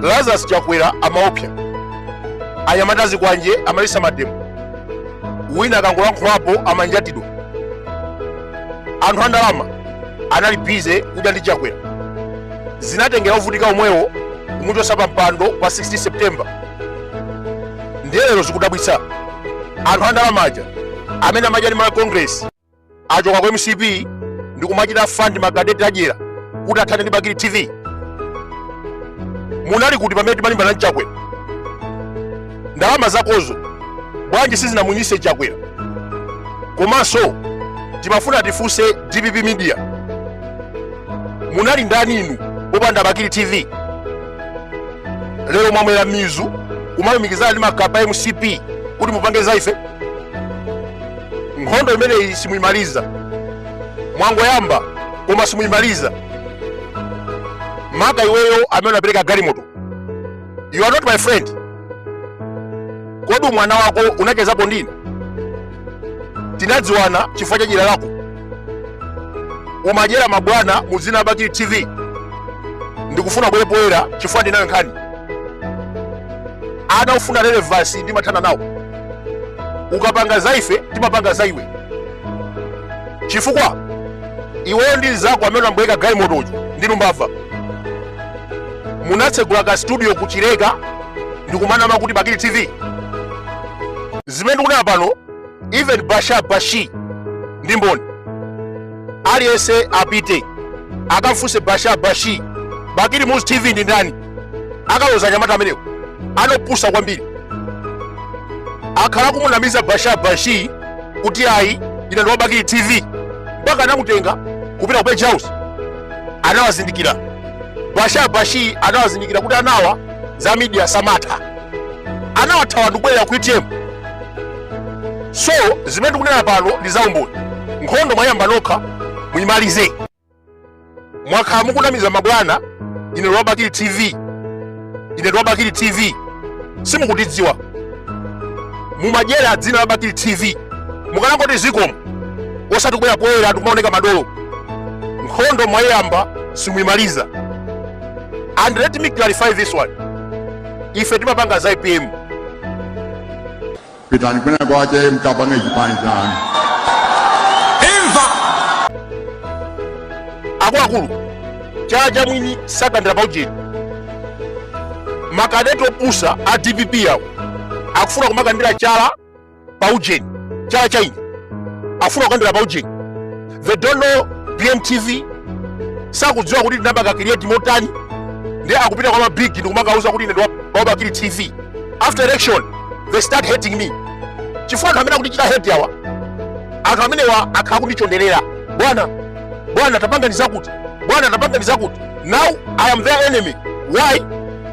lazarus chakwera amaopsa anyamata a zikwanje amaletsa mademo wina akangolankhulapo amanjatidwa anthu andalama anali bize kudya ndi chakwera zinatengera ovutika omwewo kumuchotsa pa mpando pa 16 september ndiye lero zikudabwitsa anthu andalama aja amene amadya ndi Malawi congress achoka ku mcp ndi kumachita fund makadeti adyera kuti athane ndi bakili tv munali kuti pamene timalimbana ndi chakwera ndalama zakozo bwanji sizinamunyise chakwera komanso timafuna tifunse dpp media munali ndaninu popanda bakili tv lero mwamera mizu kumalumikizana ndi makape a mcp kuti mupange za ife nkhondo imeneyi simuyimaliza mwangoyamba koma simuyimaliza maka iweyo amene unapereka galimoto you are not my friend kodi mwana wako unachezapo ndine tinadziwana chifukwa cha dyera lako umadyera mabwana mu dzina la bakili tv ndikufuna ubwere poyera chifukwa ndinayo nkhani ana ofuna relevance ndimathana nawo ukapanga za ife timapanga za iwe chifukwa iweyo ndi mzako amene unabwereka galimoto uja ndinu mbava munatsegula ka studio kuchileka ndikumanama kuti bakili tv zimene ndikunena pano even basha bashi ndi mboni aliyense apite akamfunse basha bashi bakili muluzi tv ndi ndani akaloza anyamata amenewo anopusa kwambiri akhala kumunamiza basha bashi kuti ayi ndine wa bakili tv mpaka anamutenga kupita ku page house anawazindikira basha bashi anawazindikira kuti anawa za media samatha anawathawa ndikubwerera ku utm so zimene ndikunena pano ndi zaumboni nkhondo mwayamba nokha muyimalize mwakhala mukunamiza mabwana ine ndi wa bakili tv ine ndi wa bakili tv simukutidziwa mumadyera dzina la bakili tv mukanangoti zikomo osati kubwera poyera ndikumaoneka madolo nkhondo mwayamba simuyimaliza and let me clarify this one ife timapanga za ipm pitani kwina kwache mkapange chipani chanu imva akuluakulu chala cha mwini sakandira paujeni makadeti opusa a dpp awo akufuna kumakandira chala paujeni chala cha eni akufuna kukandira paujeni they don't know bmtv sakudziwa kuti tinapanga create motani ndiye akupita kwa mabig ndikumakawauza kuti ine ndi wa Bakili tv after election they start hating me chifukwa anthu amene akundichita hate awa anthu amenewa akhala kundichonderera bwana bwana tapangani zakuti bwana tapangani zakuti now i am their enemy why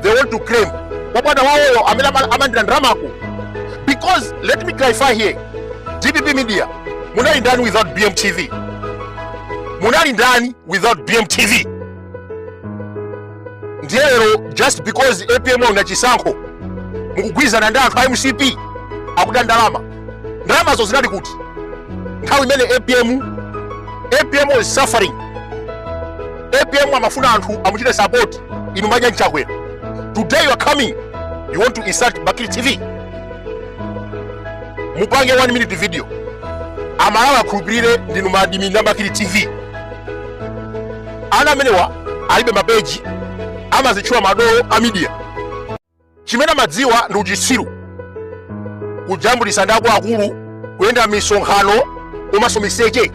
they want to claim kwa bwana wawoyo amene ama- amandidya ndalama uko because let me clarify here dpp media munali ndani without bmtv munali ndani without bmtv ndiye lero just because apm wawina chisankho mukugwirizana ndi anthu a mcp akuti ndalama ndalamazo zinali kuti nthawi imene apm apm was suffering apm amafuna anthu amuchite support inu mumadya ndi Chakwera today you are coming you want to insult bakili tv mupange 1 minute video amalawi akhulupirire ndinu ma admin a Bakili tv ana amenewa alibe mapeji amazitchula madolo a midiya chimene amadziwa ndi uchitsiru kujambulisa ndi akuluakulu kuyenda misonkhano komanso miseche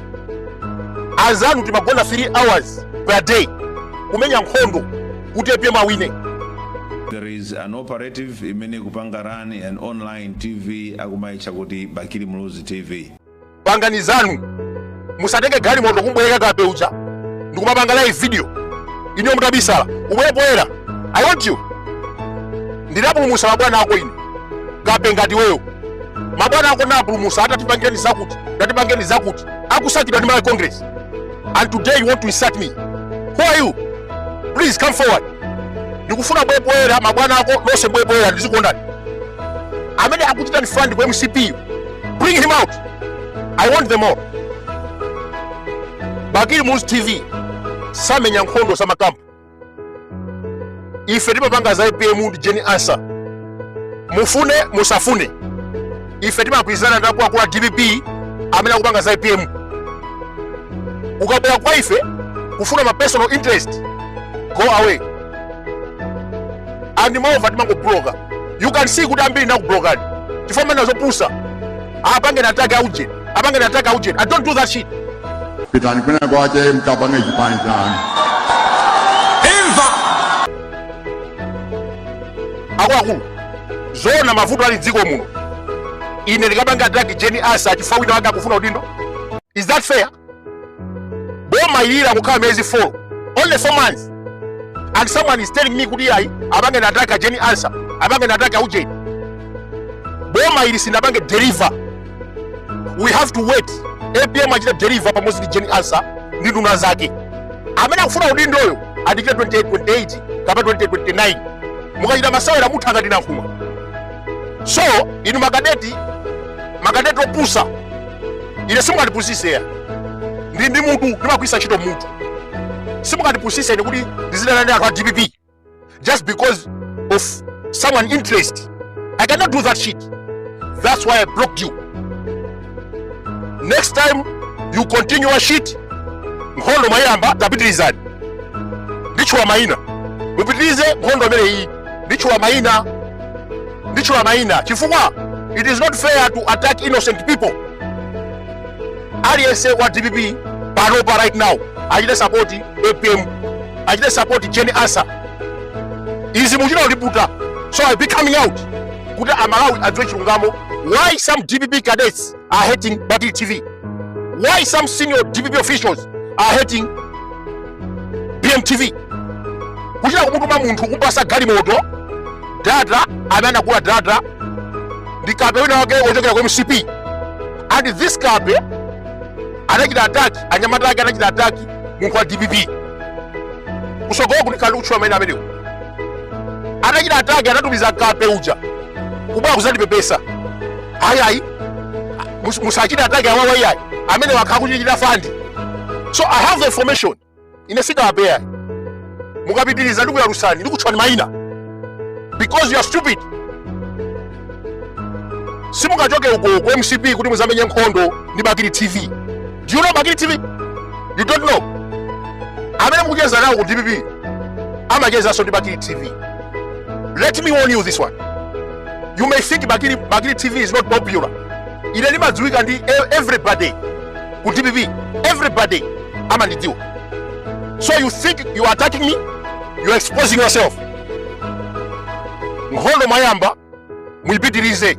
azanu timagona 3 hours per day kumenya nkhondo kuti apm awine There is an operative imene ikupanga run an online TV akumaitcha kuti Bakili Muluzi TV. pangani zanu musatenge galimoto kumbwereka kape uja ndikumapanga live video iniyo mutabisala ubwere poyera i want you ndinapulumusa mabwana ako ine kape ngati iweyo mabwana ako ndinapulumusa ata tipangireni zakuti ata tipangireni zakuti akusakidwa ndi malawi congress and today you want to insult me who are you please come forward ndikufuna ubwere poyera mabwana ako onse abwere poyera ndidziwe kuti ndani amene akukuchitani fund ku mcp bring him out i want them all bakili muluzi tv samenya nkhondo za makampu ife timapanga za apm ndi jeni ansa mufune musafune ife timagwirizana ndi akuluakulu a dpp amene akupanga za apm ukabwera kwa ife kufuna ma personal interest go away and moreover timangobloka you can see kuti ambiri nakublokani chifukwa mumanena zopusa apangeni attack auje apangeni attack auje i don't do that shit pitani kwina kwache mkapange chipani chanu akuluakulu zoona mavuto ali dziko muno ine ndikapange attack jeni ansa chifukwa wina wake akufuna udindo is that fair boma ili langokhala miyezi 4 only 4 months and someone is telling me kuti ayi apangeni attack jane ansah apangeni attack ujeni boma ili sinapange deliver we have to wait apm achite deliver pamodzi ndi jane ansah ndi nduna zake amene akufuna udindoyo adikira 2028 kapena 2029 mukachita masewera mutha ngati nankhumwa so inu makadeti makadeti opusa ine simukandipusise ndili ndi mutu ndimagwiritsa ntchito mutu simukandipusise ine kuti ndizidana ndi anthu a dpp just because of someone interest i cannot do that shit that's why i blocked you next time you continue your shit nkhondo mwayamba tapitirizani nditchula mayina mupitirize nkhondo imene iyi nditchula mayina nditchula mayina chifukwa it is not fair to attack innocent people aliyense wa dpp panopa right now achite support apm achite support jane ansah izi muchita kuliputa so i be coming out kuti amalawi adziwe chilungamo why some dpp cadets are hating Bakili TV? Why some senior DPP officials are hating BMTV? kuchita kumutuma munthu kupasa galimoto data amene anagula data ndi kape wina wake wochokera ku mcp and this kape anachita attack anyamata ake anachita attack munthu wa dpp kusogoloku ndikali kutchula maina amenewo atachita attack anatumiza kape uja kubwera kuzandipepesa ayi ayi mus- musachite attack awawa iyayi amene wakhala akutichita fund so i have the information ine sikawapeya mukapitiriza ndikuyalusani ndikutchulani mayina because you are stupid simungachoke uko ku mcp kuti muzamenye nkhondo ndi bakili tv do you know bakili tv you don't know amene mukucheza nawo ku dpp amachezanso ndi bakili tv let me warn you this one you may think bakili, bakili tv is not popular ine ndimadziwika ndi e- everybody ku dpp everybody amandidziwa so you think you are attacking me you are exposing yourself nkhondo mwayamba muyipitirize